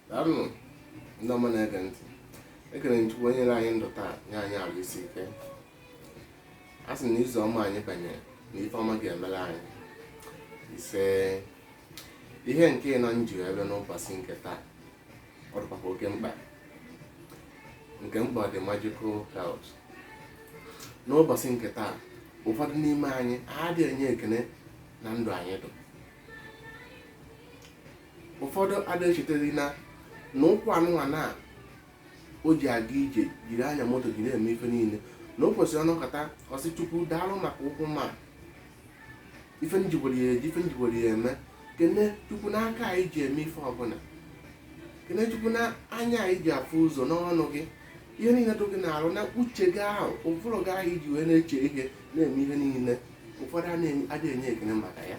daalụnụ ndị ọma na-ege ntị ekene m chukwu onye nyere anyị ndụ taa nye anyị arụ isi ike a sị na izu ọma anyị banyere na ife ọma ga-emere anyị ise ihe nke ịnọ m ji ebe n'ụbọchị nke taa ọ dịkwa oke mkpa nke m kpọrọ the magical health n'ụbọchị nke taa ụfọdụ n'ime anyị adịghị enye ekene na ndụ anyị dụ ụfọdụ adịghị echeta na ụkwụ anụnwa na o ji aga ije jiri anya moto jiri eme ife niile na o kwesịrị ọ nọkata ọ sị chukwu daalụ maka ụkwụ ma ife m ji were ya eji ife m ji were ya eme kene chukwu n'aka anyị ji eme ife ọbụla kene chukwu na anya anyị ji afụ ụzọ n'ọnụ gị ihe niile dị gị n'arụ na uche gị ahụ ụbụrụ gị ahụ i ji wee na-eche ihe na-eme ihe niile ụfọdụ adịghị enye ekene maka ya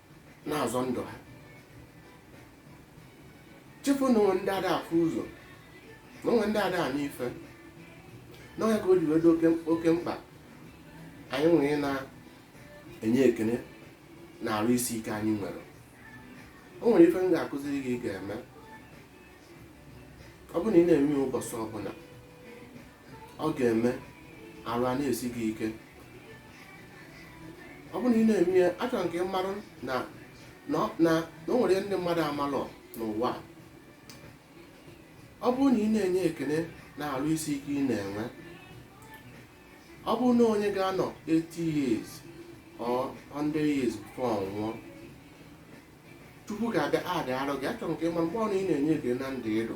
na-azọ ndụ ha chefuo na o nwee ndị ada afụ ụzọ na o nwee ndị ada anụ ife na ọ ya ka o ji wee dị oke mkpa anyị wee na-enye ekene na arụ isi ike anyị nwere o nwere ife m ga-akụziri gị ị ga-eme ọ bụrụ na ị na-eme ụbọchị ọbụla ọ ga-eme arụ a na-esi gị ike ọ bụrụ na ị na-eme ya achọrọ m ka ị malụ na na ọ- na na o nwere ndị mmadụ amalọ n'ụwa a. ọ bụrụ na ị na-enye ekele na arụ isi ike ị na-enwe ọ bụrụ na onye ga-anọ 80 years or 100 years before ọ nwụọ chukwu ga-agbatị arọ gị achọrọ m ka ị malụ mgbe ọbụna ị na-enye ekele na ndụ ị dụ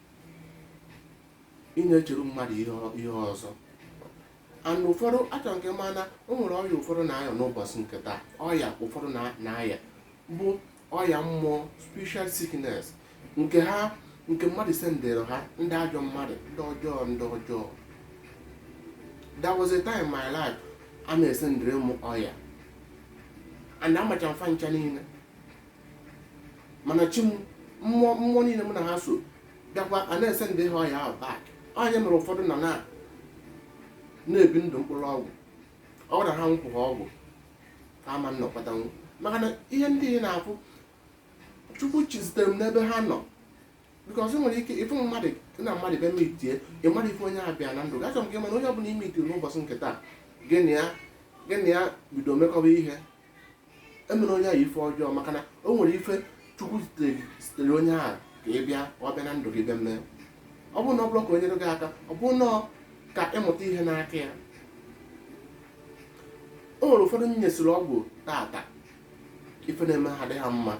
ị na-echere mmadụ ihe ọ- ihe ọzọ and ụfọdụ achọrọ m ka ị ma na o nwere ọya ụfọdụ na-aya n'ụbọchị nke taa ọya ụfọdụ na- na-aya bụ ọya mmụọ spiritual sickness nke ha nke mmadụ sendịrị ha ndị ajọ mmadụ ndị ọjọọ ndị ọjọọ there was a time in my life a na-esendịrị m ọya and amacha m fa ncha niile mana chi m mmụọ mmụọ niile m na ha so bịakwa a na-esendịrị ha ọya ahụ back ọ ya mere ụfọdụ nọ na na-ebi ndụ mkpụrụ ọgwụ ọ gwara ha nkwụ ha ọgwụ ka ama nnọkọtanwu maka na ihe ndị ị na-afụ chukwu chizitere m n'ebe ha nọ because nwere ike ịfụ mmadụ na mmadụ bịa meetie ị marọ ife onye a bịa na ndụ gị achọ m ka ị ma na onye ọbụla ị meetiri n'ụbọchị nke taa gị na ya gị na ya bido mekọba ihe emene onye ahụ ife ọjọọ maka na o nwere ife chukwu zitere onye ahụ ka ị bịa ka ọ bịa na ndụ gị bịa mee ọ bụrụ na ọ bụrụ ka o nyere gị aka ọ bụrụ na ka ị mụta ihe n'aka ya o nwere ụfọdụ m nyesịrị ọgwụ tata ife na-eme ha dị ha mma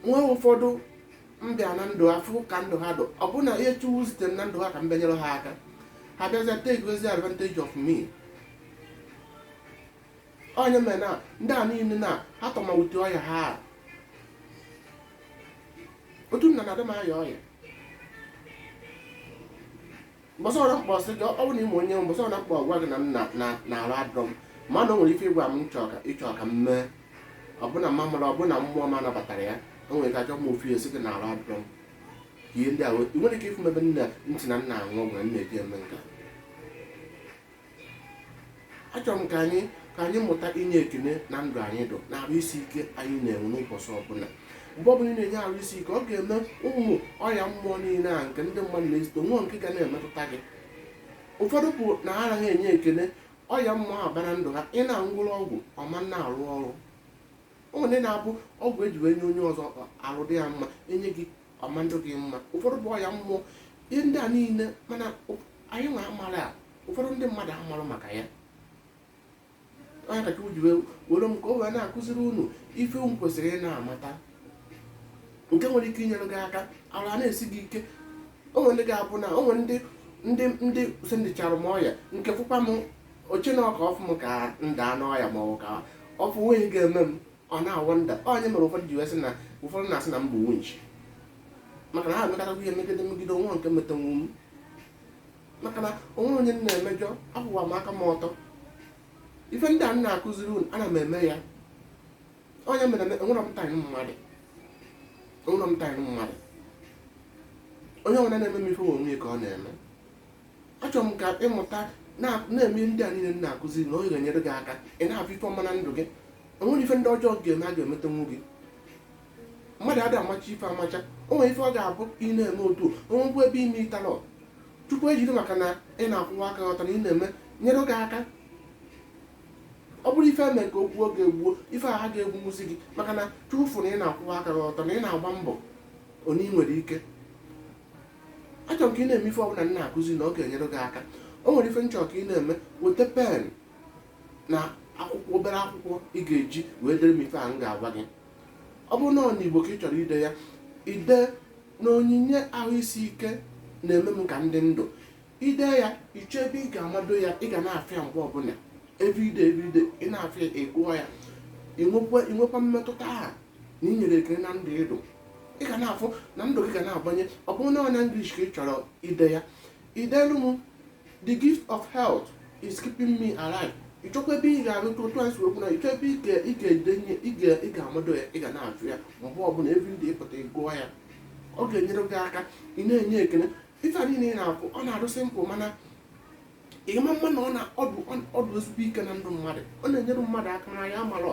nwee ụfọdụ m bịara na ndụ ha fụ ka ndụ ha dụ ọ bụrụ na ihe chukwu zitere m na ndụ ha ka m bịa nyere ha aka ha bịazie takezie advantage of me ọ nya mere na ndị a niile na ha tọmawute ọya ha a. otu m na na-adị m aya ọya mbọsị ọbụna m kpọ sị gị ọ bụ na ị ma onye mbọsị ọbụna m kpọ gwa gị na m na- na- na arụ adụrọ m mana o nwere ife ị gwa m chọọ ka ị chọ ka m mee ọ bụ na mma mara ọ bụ na mmụọ m anabatarọ ya o nwere ike achọ m ofu esi gị na arụ adụrọ m ihe ndị a wee- i nwere ike ịfụ m ebe nna ntị na m na-aṅụ ọgwụ na m na-eji eme nka achọrọ m ka anyị ka anyị mụta inye ekene na ndụ anyị dụ na arụ isi ike anyị na-enwe n'ụbọchị ọbụla mgbe ọbụla ị na-enye arụ isi ike ọ ga-eme ụmụ ọya mmụọ niile a nke ndị mmadụ na-ezite o nwerọ nke ga na-emetụta gị ụfọdụ bụ na ha anarọ enye ekene ọya mmụọ ahụ baa na ndụ ha ị na-aṅụrụ ọgwụ ọ ma na-arụ ọrụ o nwere ndị na-abụ ọgwụ e ji wee nye onye ọzọ arụ dị ya mma e nye gị ọ ma adụ gị mma ụfọdụ bụ ọya mmụọ ihe ndị a niile mana anyị nwa amarọ ya ụfọdụ ndị mmadụ amarọ maka ya ọ nya ka chukwu ji were m ka o wee na-akụziri unu ife unu kwesịrị ị na-amata nke nwere ike inyere gị aka arụ ana-esi gị ike o nwere ndị ga-abụ na o nwere ndị ndị ndị sendichara m ọya nke fụkwa m o che na ọ ka ọ fụ m ka m daa n'ọya ma ọ ka ọ fụ nweghị ga-eme m ọ na-awonder ọ nya mere ụfọdụ ji wee sị na ụfọdụ na-asị na m bụ winch maka na ha emekọtakwa ihe megide megide o nwerọ nke metanwu m maka na o nwerọ onye m na-emejọ akwụwa m aka m ọtọ ife ndị a m na-akụziri unu ana m eme ya ọ nya mere eme enwerọ m time mmadụ enwerọ m time mmadụ onye ọbụna na-eme m ife onwe ya ka ọ na-eme achọrọ m ka ị mụta na-eme ndị a niile m na-akụziri na ọ ga-enyere gị aka ị na-afụ ife ọma na ndụ gị o nwerọ ife ndị ọjọọ ga-eme a ga-emetanwu gị mmadụ ada amacha ife amacha o nwere ife ọ ga-abụ ị na-eme otu o nwekwu ebe i metalọ chukwu ejiri maka na ị na-akwụwa aka gị ọtọ na ị na-eme nyere gị aka ọ bụrụ ife e me ka o gbuo gị egbuo ife ahụ aga-egbunwuzi gị maka na chukwu fụ na ị na-akwụwa aka gị ọtọ na ị na-agba mbọ one i nwere ike achọrọ m ka ị na-eme ife ọbụla m na-akụzi na ọ ga-enyere gị aka o nwere ife m chọrọ ka ị na-eme weta pen na akwụkwọ obere akwụkwọ ị ga-eji wee dere m ife a m ga-agwa gị ọ bụrụ na ọ n'igbo ka ị chọrọ ide ya ide na onyinye ahụ isi ike na-eme m ka m dị ndụ ide ya ị chọọ ebe ị ga-amado ya ị ga na-afụ ya mgbe ọbụla everyday everyday ị na-afụ ya ị gụọ ya i nwekwa mmetụta ahụ na ị nyere ekele na ndụ ị dụ ị ga na-afụ na ndụ gị ga na-agbanwe ọ bụrụ na ọ na English ka ị chọrọ ide ya i delu m the gift of health is keeping me alive ịchọkwa ebe ị ga-arụ tụ otu anyị si kwuo na ịchọ ebe ị ga-edenye ị ga-amado ya ị ga na-afụ ya mgbe ọbụla every day ị pụta ị gụọ ya ọ ga-enyere gị aka ị na-enye ekele ife a niile ị na-afụ ọ na-adụ simple mana ị ma-ama na ọ na ọ dụ ezigbo ike na ndụ mmadụ ọ na-enyere mmadụ aka na ya mara